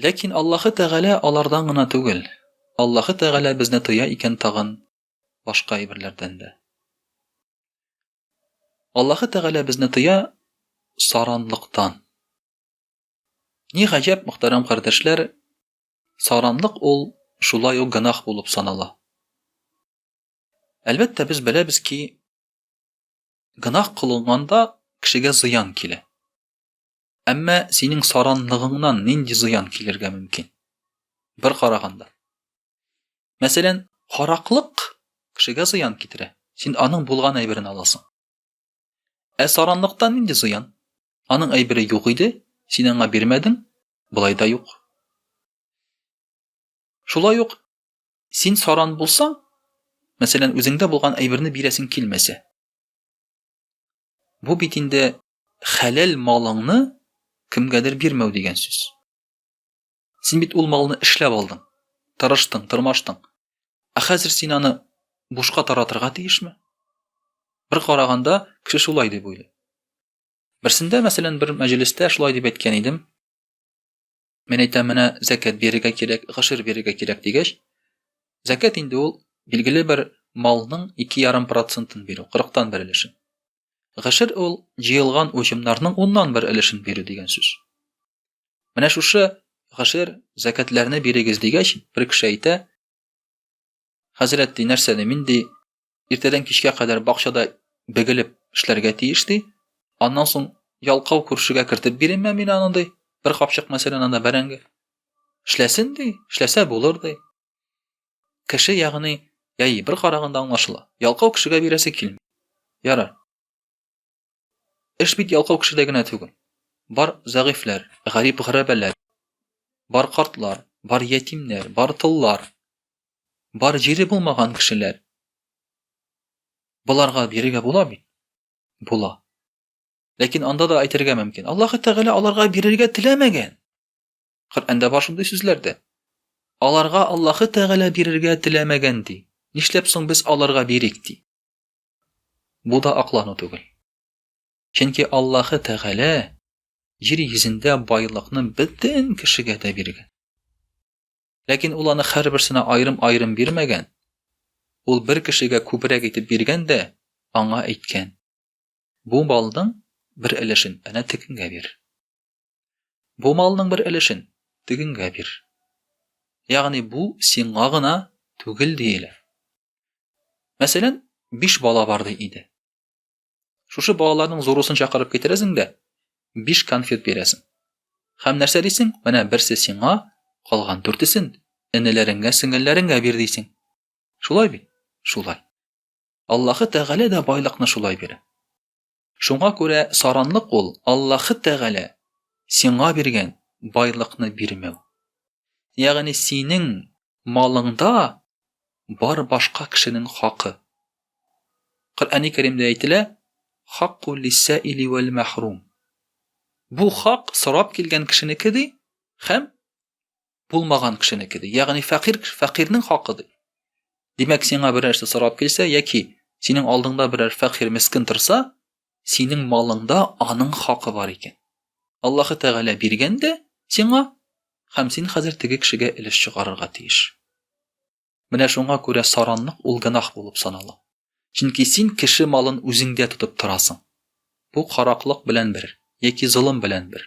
Ләкин Аллаһы Тәгалә алардан гына түгел. Аллаһы Тәгалә безне тоя икән тагын башка әйберләрдән дә. Аллаһы Тәгалә безне тоя саранлыктан. Ни гаҗәп, мөхтәрәм кардәшләр, саранлык ул шулай ук гынах булып санала. Әлбәттә, без беләбез ки, гынах кылынганда кешегә зыян килә. Әмма синең саранлыгыңнан нинди зыян килергә мөмкин? Бер караганда. Мәсәлән, хараклык кешегә зыян китерә. Син аның булган әйберен аласың. Ә саранлыктан нинди зыян? Аның әйбере юк иде, син аңа бирмәдең, болай да юк. Шулай ук син саран булсаң, мәсәлән, үзеңдә булган әйберне бирәсең килмәсә. Бу бит инде хәләл малыңны кемгәдер бирмәү дигән сүз. Син бит ул малны эшләп алдың, тырыштың, тырмаштың. Ә хәзер син аны бушка таратырга тиешме? Бер караганда, кеше шулай дип уйлый. Берсендә, мәсәлән, бер мәҗлестә шулай дип әйткән идем. Мин әйтәм, менә зәкәт бирергә кирәк, гашир бирергә кирәк дигәч, зәкәт инде ул билгеле бер малның 2,5%-ын бирү, 40-тан бер өлешен. Гашир ул җыелган уҗымнарның уннан бер өлешен бирү дигән сүз. Менә шушы гашир зәкәтләрне бирегез дигәч, бер кеше әйтә, Хәзрәт ди, нәрсә ди, мин ди, иртәдән кичкә кадәр бакчада бегелеп эшләргә тиеш ди. Аннан соң ялкау күршегә кертеп бирәмме мин аны ди. Бер капчык мәсәлән анда бәрәңге. Эшләсен ди, эшләсә булыр ди. Кеше ягъни, яи бер караганда аңлашыла. Ялкау кешегә бирәсе килми. Ярар. Эш бит ялкау кешедә генә түгел. Бар зәгыйфьләр, гарип гәрәбәләр, бар картлар, бар ятимнәр, бар тыллар, бар җире булмаган кешеләр. Боларга бирергә була бит. Була. Ләкин анда да әйтергә мөмкин. Аллаһ Тәгалә аларга бирергә теләмәгән. Коръәндә бар шундый сүзләр дә. Аларга Аллаһ Тәгалә бирергә теләмәгән ди. Нишләп соң без аларга бирик ди? Бу да аклану түгел. Чөнки Аллаһы Тәгалә җир йөзендә байлыкны бөтен кешегә дә биргән. Ләкин ул аны һәрберсенә аерым-аерым бирмәгән. Ул бер кешегә күбрәк итеп биргән дә аңа әйткән: "Бу малның бер өлешен әнә тегенгә бир. Бу малның бер өлешен тегенгә бир. Ягъни бу сиңа гына түгел диелә. Мәсәлән, биш бала бар ди иде. Шушы балаларның зурусын чакырып китерәсең дә, биш конфет бирәсең. Хәм нәрсә дисең? Менә берсе сиңа, калган дүртесен энеләреңгә, сеңелләреңгә бир дисең. Шулай бит? Шулай. Аллаһы Тәгалә дә байлыкны шулай бирә. Шуңа күрә саранлык ул Аллаһы Тәгалә сиңа биргән байлыкны бирмәү. Ягъни синең малыңда бар башка кешенең хакы. Коръәни Кәримдә әйтелә, Хакку лиссәили вәл мәхрум. Бу хак сорап килгән кешенеке ди, һәм Булмаган кешенеке ди. Ягъни фәкыйрь фәкыйрьнең хакы ди. Димәк, сиңа берәр нәрсә сорап килсә яки синең алдыңда берәр фәкыйрь мескин торса, синең малыңда аның хакы бар икән. Аллаһы Тәгалә биргән дә сиңа, һәм син хәзер теге кешегә өлеш чыгарырга тиеш. Менә шуңа күрә саранлык ул гынах булып санала. Чөнки син кеше малын үзеңдә тотып торасың. Бу караклык белән бер, яки золым белән бер.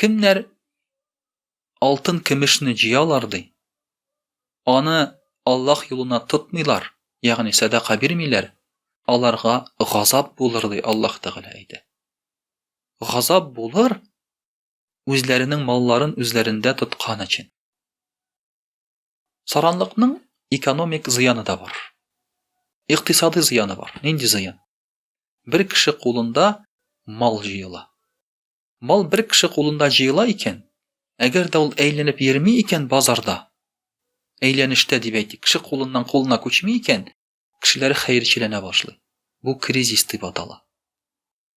Кемнәр алтын көмешне җыялар ди. Аны Аллаһ юлына тотмыйлар, ягъни садака бирмиләр, аларга газап булыр ди Аллаһ Тәгалә әйтә. Газап булыр үзләренең малларын үзләрендә тоткан өчен. Саранлыкның экономик зыяны да бар. Икътисади зыяны бар. Нинди зыян? Бер кеше кулында мал җыела. Мал бер кеше кулында җыела икән, әгәр дә ул әйләнеп йөрми икән базарда, әйләнештә дип әйтик, кеше кулыннан кулына күчми икән, кешеләр хәерчеләнә башлый. Бу кризис дип атала.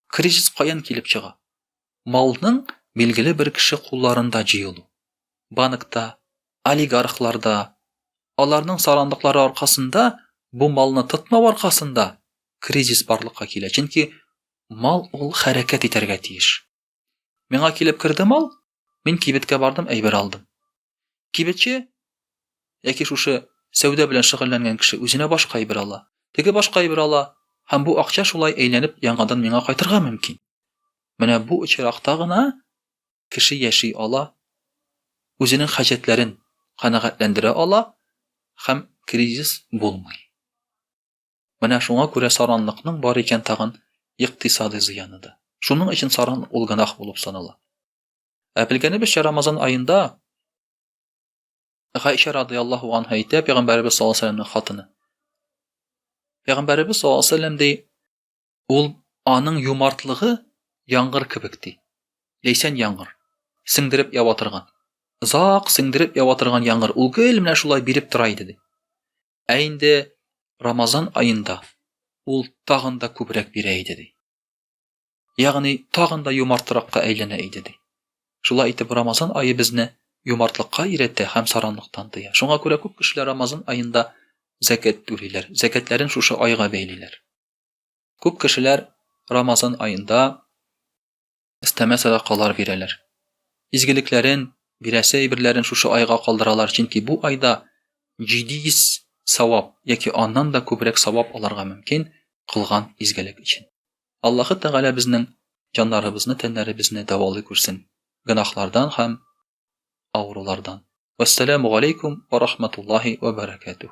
Кризис каян килеп чыга? Малның билгеле бер кеше кулларында җыелу, банкта, олигархларда, аларның сарандыклары аркасында, бу малны тотмау аркасында кризис барлыкка килә, чөнки мал ул хәрәкәт итәргә тиеш. Миңа килеп керде мал, мин кибеткә бардым, әйбер алдым. Кибетче яки шушы сәүдә белән шөгыльләнгән кеше үзенә башка әйбер ала. Теге башка әйбер ала, һәм бу акча шулай әйләнеп яңадан миңа кайтырга мөмкин. Менә бу очракта гына кеше яши ала, үзенең хаҗәтләрен канәгатьләндерә ала һәм кризис булмый. Менә шуңа күрә саранлыкның бар икән тагын икътисадый зыяны да. Шуның өчен саран ул гынах булып санала. Ә белгәнебезчә, Рамазан аенда Гайшә радиаллаһу анһа әйтә, пәйгамбәребез саллаллаһу алейһи вәсәлләмнең хатыны. Пәйгамбәребез саллаллаһу алейһи вәсәлләм ди, ул аның юмартлыгы яңгыр кебек ди. Ләйсән яңгыр. Сеңдереп ява торган. Зак сеңдереп ява торган яңгыр. Ул гел менә шулай биреп тора иде ди. Ә инде Рамазан аенда ул тагын да күбрәк бирә иде ди. Ягъни, тагын да юмартракка әйләнә иде, ди. Шулай итеп, Рамазан ае безне юмартлыкка өйрәтә һәм саранлыктан тыя. Шуңа күрә күп кешеләр Рамазан аенда зәкәт түлиләр, зәкәтләрен шушы айга бәйлиләр. Күп кешеләр Рамазан аенда истәмә садакалар бирәләр. Изгелекләрен, бирәсе әйберләрен шушы айга калдыралар, чөнки бу айда 700 савап яки аннан да күбрәк савап алырга мөмкин кылган изгелек өчен. Аллаһы Тәгалә безнең җаннарыбызны, тәннәребезне дәвалый күрсен гөнаһлардан һәм авырулардан. Вәссәламу галәйкүм ва рахматуллаһи ва бәрәкәтүһ.